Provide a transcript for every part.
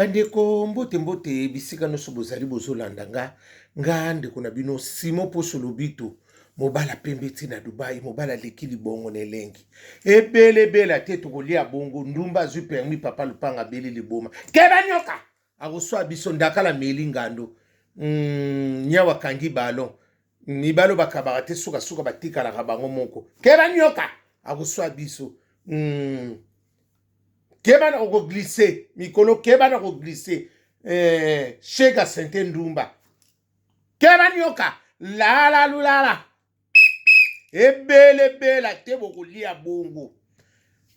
Bandeko mbote mbote bisika nyonso bozali bozolanda nga nga ndeko na bino Simon Poso Lobito mobala pembe ti na Dubai mobala leki libongo na elengi ebele bela te tokolia bongo ndumba azwi permis papa lupanga beli liboma keba nyoka akoswa biso ndakala meli ngando mm, nyawa kangi balon mibalo bakabaka te sukasuka batikalaka bango moko keba nyoka akoswa biso mm. keba na ko glisse mikolo keba na ko glisse eh, shega sente ndumba keba nioka lala lulala ebelebela te bokolia bongo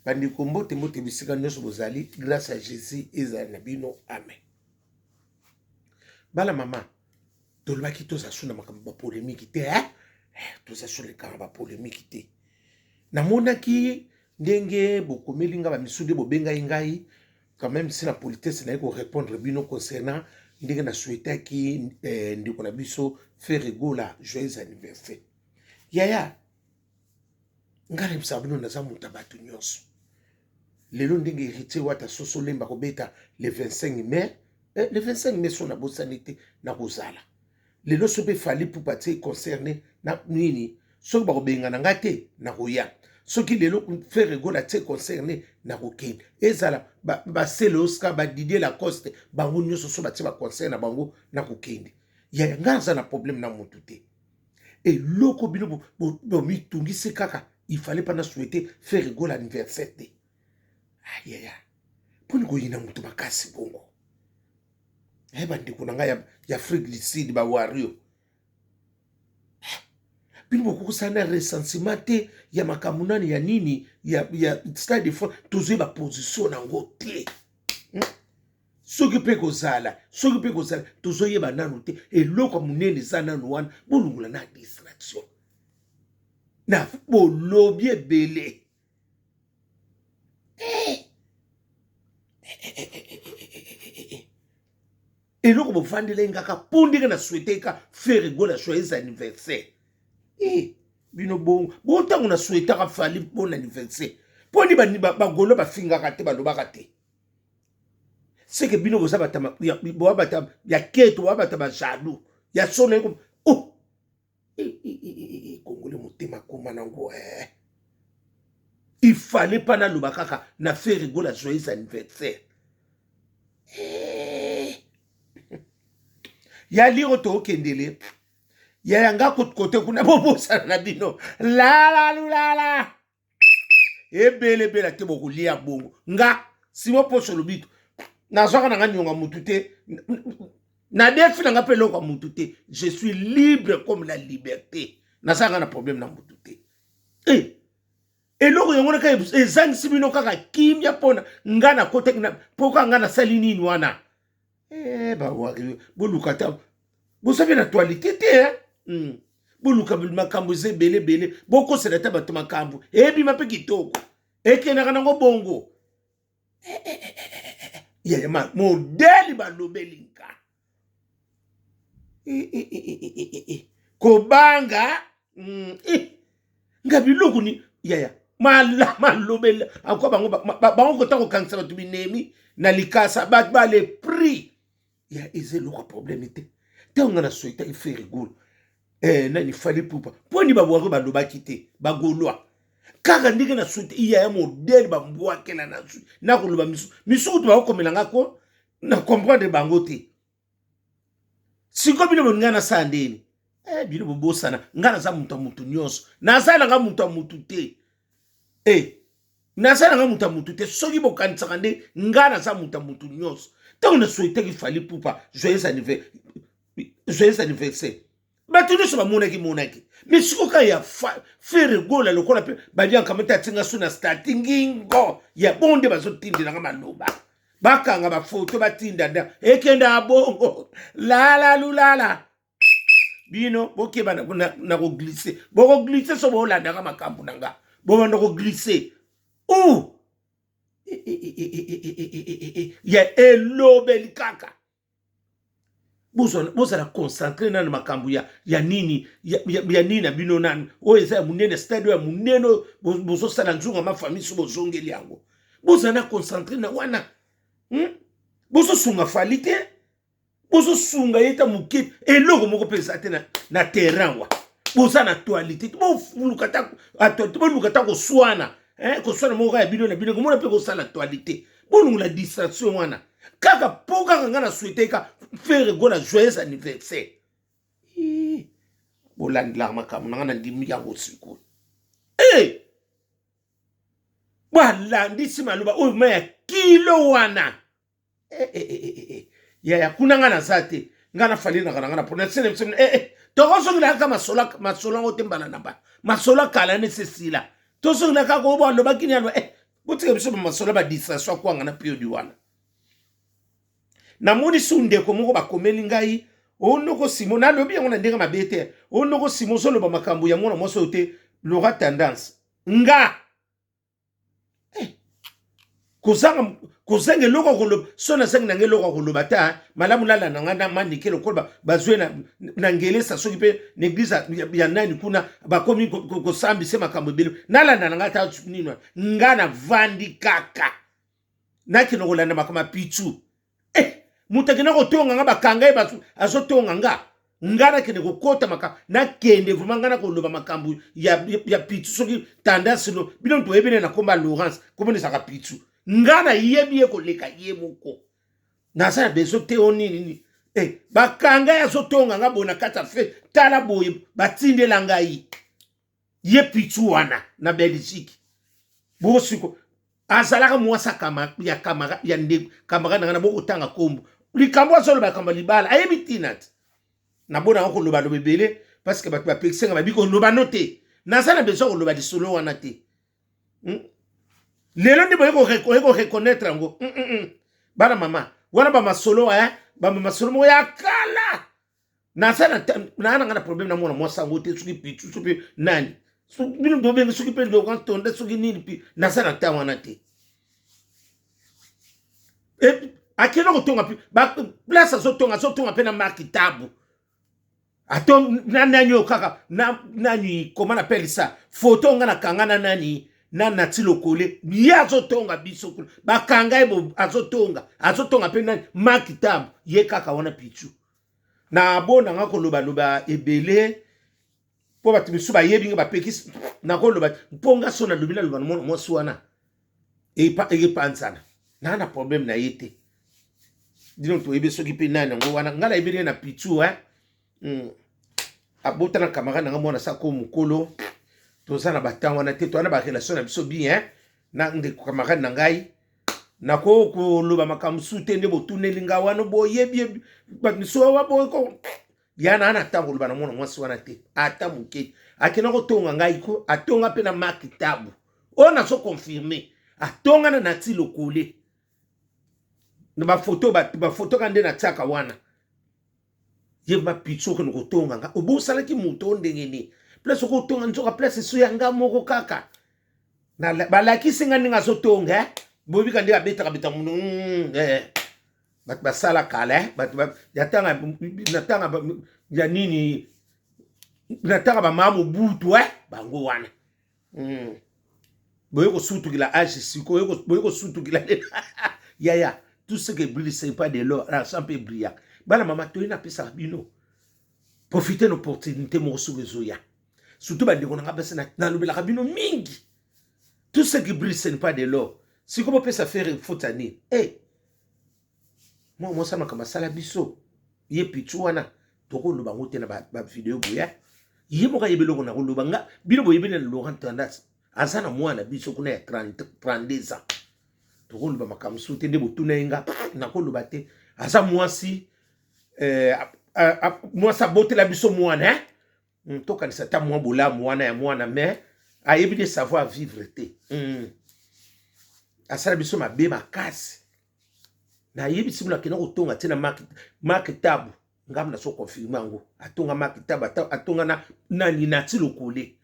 bandeko mbote mbote bisika nyonso bozali grâce ya jésus ezala na bino amen bana mama tolobaki toza su na makambo ba polemiki te eh? eh toza su lekaka ba polemiki te namonaki ndenge bokomeli ngai bamisu nde bobengai ngai quand même si na politesse naye korépondre bino concernant ndenge na souhaitaki eh, ndeko na biso ferre gola joyeux anniversaire yaya nga nayebisa bino naza moto ya bato nyonso lelo ndenge héritier wata soso lemba kobeta le 25 mai eh, le 25 mai so nabosani te nakozala lelo soki efali pupa tie concerne na nini soki bakobengana nga te nakoya soki lelo frere gola tie concerne nakokende ezala basele oscar badidie lacoste bango nyonso so batie baconcert na bango nakokende ya nga aza na problème na motu te eloko bino bomitungisi kaka il fallait pas na souhaite faire gola anniversaire te ayaya mponi koyina moto makasi bongo e bandeko na ngai ya afrique du sud bawario eh, bino bokokosala na recensement te ya makambo nani ya nini ya, ya stade de france tozwi baposition na yango te hmm? soki mpe kozala soki mpe kozala tozoyeba nanu te eloko monene eza nanu wana bolongola na distraction na bolobi ebele eloko bofandeli ngaka mpo ndenge na swete ka fere gola joyeux anniversaire e bino bongo bontango na swetaka fali mpo na anniversaire mpo ni bagolo bafingaka te balobaka te ba seke bino boza bata boa bata ya keto boa bata ba jaloux ya solo eko oh ekongoli motema koma nango eh. il fallait mpa naloba kaka na fere gola joyeux anniversaire eh. ya liro tookendele ya yanga kote kuna bobosana na bino lalalulala ebele ebele ate bokolia bongo nga simo poso lobito nazwaka na nga nionga mutu te nadefi na nga mpe eloko ya mutu te je suis libre comme la liberté naza nga na problème na mutu te e eh, eloko yango na kaka ezangisi bino kaka kimia mpona nga nakotaki mpoka nga nasali nini wana Eh, ba eh, boluka ta bosabe na actualité te hein? Hmm. boluka makambo eza ebele ebele bokosela ata bato makambo ebima mpe kitoko ekendaka nango bongo eh, eh, eh, yayama modeli balobeli nka kobanga mm, eh, nga biloko ni yaya mala malobela akwa bango bango kota kokangisa bato binemi na likasa bato ba le prix ya eza eloko problème te ntango nga na soitaki frere golo eh, nani fali pupa mpo ni babwaki balobaki te bagolois kaka ndenge na soite iya ya modele bambwakela nazwi nakoloba misu misu kutu bakokomela nga ko na comprendre bango te siko bino bolingi nga nasala ndeni eh, bino bobosana nga naza moto ya motu nyonso naza nanga moto ya motu te eh, naza nanga moto ya motu te soki bokanisaka nde nga naza moto ya motu nyonso ntango na souhaitaki fali pupa joyeux anniversaire bato nyonso bamonaki monaki mais sikoyo kaka ya fere gola lokola mpe badianka mete atinga so na stati ngingo ya bongo nde bazotindelanga maloba bakanga bafoto batinda nda ekenda abongo lala lulala bino bokeba na koglise bokoglise so bolandaka makambo na nga bobanda koglise u ya elobeli kaka bozala concentre nani na makambo ya, ya nini ya, ya, ya nini na bino nani oyo eza ya monene stade oyo ya monene oyo bozosala nzunga mafamili so bozongeli yango bozala na concentre na wana hmm? bozosunga fali te bozosunga ye ta moke eloko moko mpe eza te na, na terrain wa boza na actualité te boluka ta koswana eh, koswana moko ya bino na bino komona mpe kosala actualité bolongola distraction wana kaka po kaka ngai na souhaite ka fere gola joyeux anniversaire bolandelaka makambo na ngai nandimi yango sikoyo e balandisi maloba oyo ma ya kilo wana e, e, e, e, e. yaya kuna ngai naza te ngai nafalinaka na ngai na pona sene biso e, e. tokozongelaka masolo masolo yango te mbala na mbala masolo kala ne sesila tozongelaka kobo alobaki ni yango e botika biso bamasolo ba distraction ya kwanga na piodi wana namoni su ndeko moko bakomeli ngai onoko simo nalobi yango na ndenge mabe te onoko simo ozoloba makambo ya mwana mwasi oyo te lora tendance nga eh, kozanga kozanga eloko koloba so nazangi nanga eloko koloba ta malamu lala na ngai na manike lokola bazwi na na ngelesa soki mpe na eglize ya nani kuna bakomi kosambisa makambo ebele nalanda na ngai ata nini nga navandi kaka nakende kolanda makambo ya pichu eh, moto akenda kotonga nga bakanga ye azotonga nga nga nakende kokota makambo nakende vraimen nga nakoloba makambo ya, ya, ya pichu soki tendance no bino moto oyebene na komba laurence komonisaka pichu nga nayebi ye koleka ye moko naza na besoin te o nini nini e eh, bakanga ye azotonga nga boye na kati ya fe tala boye batindela ngai ye pichu wana na belgique bosiko azalaka mwasi ya kamara ya ndeko kamara na nga na bokotanga nkombo likambo azoloba likambo libala ayebi ntina te nabonaka kolobaloba ebele parceke bato bapekisenga babi koloba no te naza na besoin koloba lisolo wana te hmm? lelo nde boyei koreconnaitre yango hmm, hmm, bana mama wana bamasolo eh? bamasolo moko ya kala naza naa nanga na problème na mwana mwasi yango te soki pitu soki nani bino tobenge soki mpe ndokantonde soki nini mpe naza na ntango wana te akenda kotonga mpe place azotonga azotonga mpe na marki tabu ato na nani oyo kaka na nani koma napele sa foto nga nakanga na nani na nati lokole ye azotonga biso kuna bakanga ye azotonga azotonga mpe nani makitambo ye kaka wana pichu na bona nga kolobaloba ebele mpo bato misusu bayebi nga bapekisi nakoloba mpo nga so nalobi naloba na mwana mwasi wana epanzana naa na problème na ye te dino toyebi soki mpe nani yango wana ngai nayebi nde na pitu e hmm. abota na camarade nanga mwana sako mokolo toza na batemp wana te towana barelation na biso bien na ndeko camarade na ngai nakoki koloba makambo mosusu te nde botuneli ngai wana boyebi bato misusu waboyeko ya na ata koloba na mwana mwasi wana te ata moke akenda kotonga ngai ko atonga mpe na maki tabu oyo nazo confirme atonga na nati lokole na bafoto bafoto ka nde natiaka wana ye bapitso okende kotonga nga obosalaki moto o ndenge nini place okotonga nzoka place eso ya nga moko kaka balakisi nga ndenge azotonga eh? bobika nde abetaka beta mono mm, eh. bato basala kala eh? bato ya tanga na tanga ya nini na tanga bamama mobutu eh? bango wana mm. boye kosutukila age sikoyo boye kosutukila yaya tout ce que brille c'est pas de l'or l'argent mpe brillaka bana mama toye napesaka bino profite na opportunité moko soki ezoya surtout bandeko na ngai basi nalobelaka bino mingi tout ce qui brille ce n'est pas de l'or sikoyo bopesa fere fotani e eh, hey, mwa mwasi makambo asala biso ye pichu wana tokoloba yango te na bavideo ba boya ye moko ayebi eloko na koloba nga bino boyebi na laurent tandas aza na mwana biso kuna ya 32 ans tokoloba makambo mosusu te nde botuna ye nga nakoloba te aza mwasi eh, mwasi abotela biso mwana eh? mm, tokanisa ata mwa bolamu wana ya mwana mais ayebi de savoir vivre te mm. asala biso mabe makasi nayebisi bino akenda kotonga te na marke tabu ngambo na so confirme yango atonga marke tabu atonga na nani nati lokole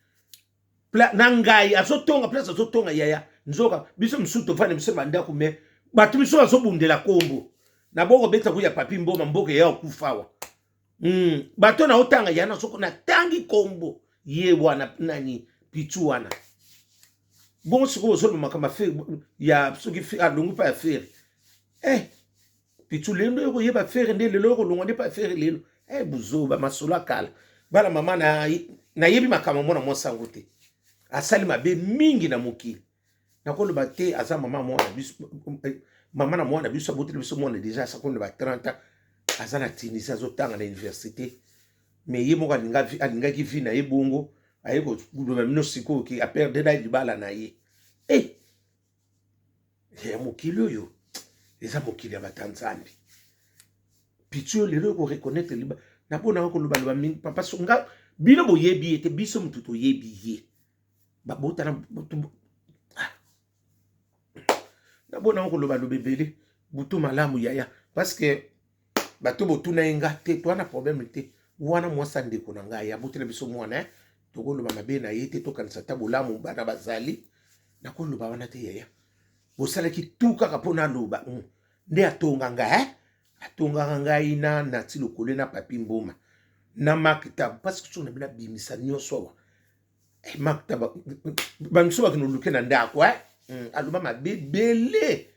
na ngai azotonga place azotonga yaya nzoka biso mosusu tofanda biso bandako me bato biso bazobundela nkombo na boko beta kuya papi mboma mboka eya okufawa mm, bato na otanga yana soko natangi kombo ye wana nani pitu wana bongo sikoyo ozoloba makambo ya soki alongi mpa ya fere eh, pitu lelo nde okoyeba fere nde lelo okolongwa nde mpa ya fere lelo eh, buzoba masolo akala bana mama nayebi makambo mwana mwasi yango te asali mabe mingi na mokili nakoloba te aza mama mwana biso mama na mwana biso aboteli biso mwana deja asakoli na ba 30 ans aza na tunisi azotanga na université mais ye moko alingaki vie na ye bongo aye koloba bino sikoyo ke aperdela libala na ye e eh! eh, ya mokili oyo eza mokili ya bata nzambe pitio lelo ekoreconnaitre liba naponaka kolobaloba mingi papa songa bino boyebi ye te biso motu toyebi ye babota na butu ah. nabona yango koloba loba ebele butu malamu yaya parceke bato botuna ye nga te toa na problème te wana mwasi ya ndeko na ngai abotela biso mwana eh? tokoloba mabe na ye te tokanisa ata bolamu bana bazali nakoloba wana te yaya bosalaki tu kaka mpo naloba mm. nde atonga ngai eh? atongaka ngai na nati lokole na papi mboma na maktab parce que soki na bino abimisa nyonso awa eh, makta bamiso bakende oluke na ndako eh? mm, aloba mabe ebele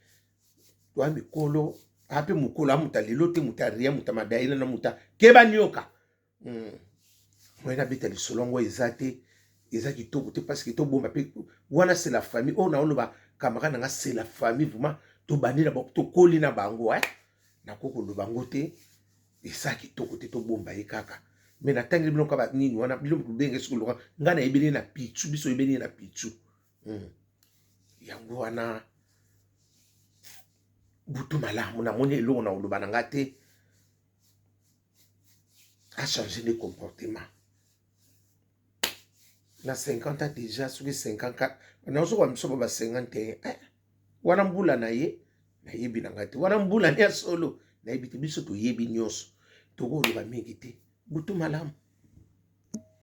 toya mikolo ape mokolo amuta lelo te muta ria muta madaela na muta keba nioka mm. moyen abeta lisolo yango eza te eza kitoko te parce que tobomba mpe wana c'est la famille oyo oh, naoloba camarade na nga c'est la famille vraiment tobandi na bango tokoli na bango eh? nakoki koloba yango te Eza kitoko te tobomba ye kaka me natangeli bino kaka nini wana bino bikobenge soki loka ngai nayebi ne na pichu biso oyebeni ye na pichu hmm. yango wana butu malamu namoni eloko na koloba na ngai te achange nde comportement na 50 ans deja soki 54 nazokoba misoba ba 51 eh, wana mbula na ye nayebi na ngai te wana mbula ya solo nayebi te biso toyebi nyonso tokoloba mingi te butu malamu